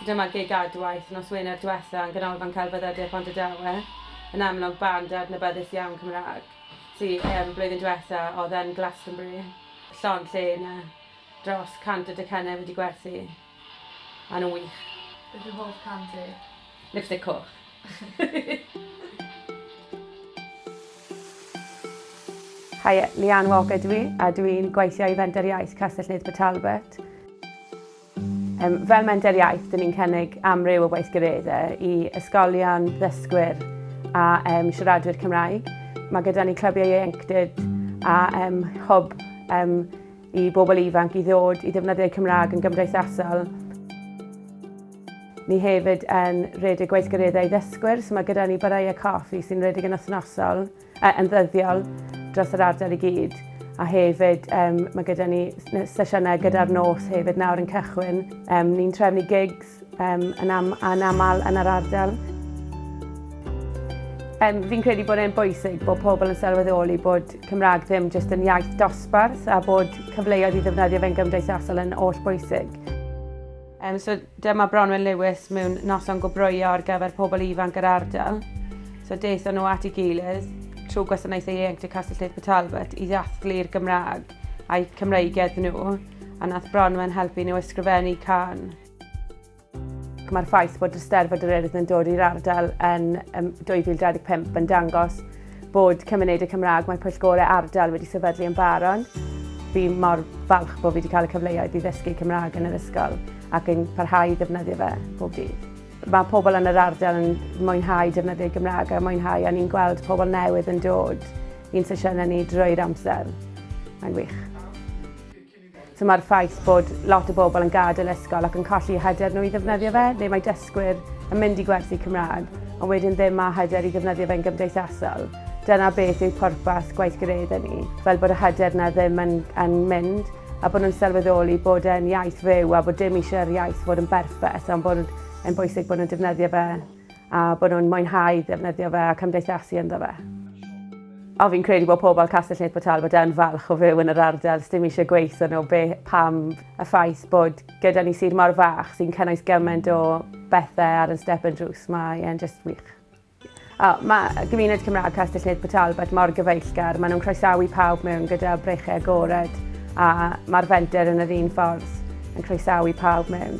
Dyma gig Adwaith nos Wener dwetha yn Ganolfan Celfyddydau Pontardawe. Yn amlwg band adnabyddus iawn Cymraeg sy yym blwyddyn dwetha odd yn Glastonbury. Llond lle yna. Dros 100 o docynnau wedi gwerthu. Ma' nhw'n wych. Beth yw hoff can ti? Lipstick Coch. Hi, Leanne Walker dwi, a dwi'n gweithio i Fenter Iaith Castell Nedd Port Talbot. Um, fel Menter Iaith, dyn ni'n cynnig amryw o weithgareddau i ysgolion, ddysgwyr a um, siaradwyr Cymraeg. Mae gyda ni clybiau ieuenctid a um, hwb um, i bobl ifanc i ddod i ddefnyddio'u Cymraeg yn gymdeithasol. Ni hefyd yn rhedeg gweithgareddau i ddysgwyr, so mae gyda ni barau a coffi sy'n rhedeg yn wythnosol, uh, yn ddyddiol, dros yr ardal i gyd. A hefyd, um, mae gyda ni sesiynau gyda'r nos hefyd nawr yn cychwyn. Um, ni'n trefnu gigs um, yn, am, yn aml yn yr ardal. Um, fi'n credu bod e'n bwysig bod pobl yn sylweddoli bod Cymraeg ddim jyst yn iaith dosbarth a bod cyfleoedd i ddefnyddio fe'n gymdeithasol yn oll bwysig. Yym so dyma Bronwen Lewis mewn noson go broio ar gyfer pobl ifanc yr ardal. So daethon nhw at ei gilydd trwy gwasanaethau ieuenctid Castell Lleith Port Talbot i ddathlu'r Gymraeg a'i Cymreigedd nhw a nath Bronwen helpu nhw ysgrifennu can. Mae'r ffaith bod Eisteddfod yr Urdd yn dod i'r ardal yn 2025 yn dangos Bod Cymunedau Cymraeg Mae Pwyllgorau Ardal wedi sefydlu yn Baron. Fi mor falch bod fi wedi cael y cyfleoedd i ddysgu Cymraeg yn yr ysgol ac yn parhau i ddefnyddio fe bob dydd. Mae pobl yn yr ardal yn mwynhau defnyddio Gymraeg a mwynhau a ni'n gweld pobl newydd yn dod i'n sesiynau ni drwy'r amser. Mae'n wych. So mae'r ffaith bod lot o bobl yn gadael ysgol ac yn colli hyder nhw i ddefnyddio fe, neu mae dysgwyr yn mynd i gwersi Cymraeg, ond wedyn ddim â hyder i ddefnyddio fe'n gymdeithasol. Dyna beth yw pwrpas gweithgaredda ni, fel bod y hyder yna ddim yn, yn mynd, a bod nhw'n sylweddoli bod e'n iaith fyw a bod dim eisiau'r iaith fod yn berffeth, ond bod e'n bwysig bod nhw'n defnyddio fe A bod nhw'n mwynhau defnyddio fe a cymdeithasu ynddo fe. O, fi'n credu bod pobl Castell Nedd Port Talbot yn falch o fyw yn yr ardal, sdim eisiau gweithio nhw, be, pam, y ffaith bod gyda ni sir mor fach sy'n cynnwys gymaint o bethau ar yn step yn drws, mae e'n just wych. O, mae gymuned Cymraeg Castell Nedd Port Talbot mor gyfeillgar, maen nhw'n croesawu pawb mewn gyda brechau agored a mae'r fenter yn yr un ffordd. yn croesawu pawb mewn.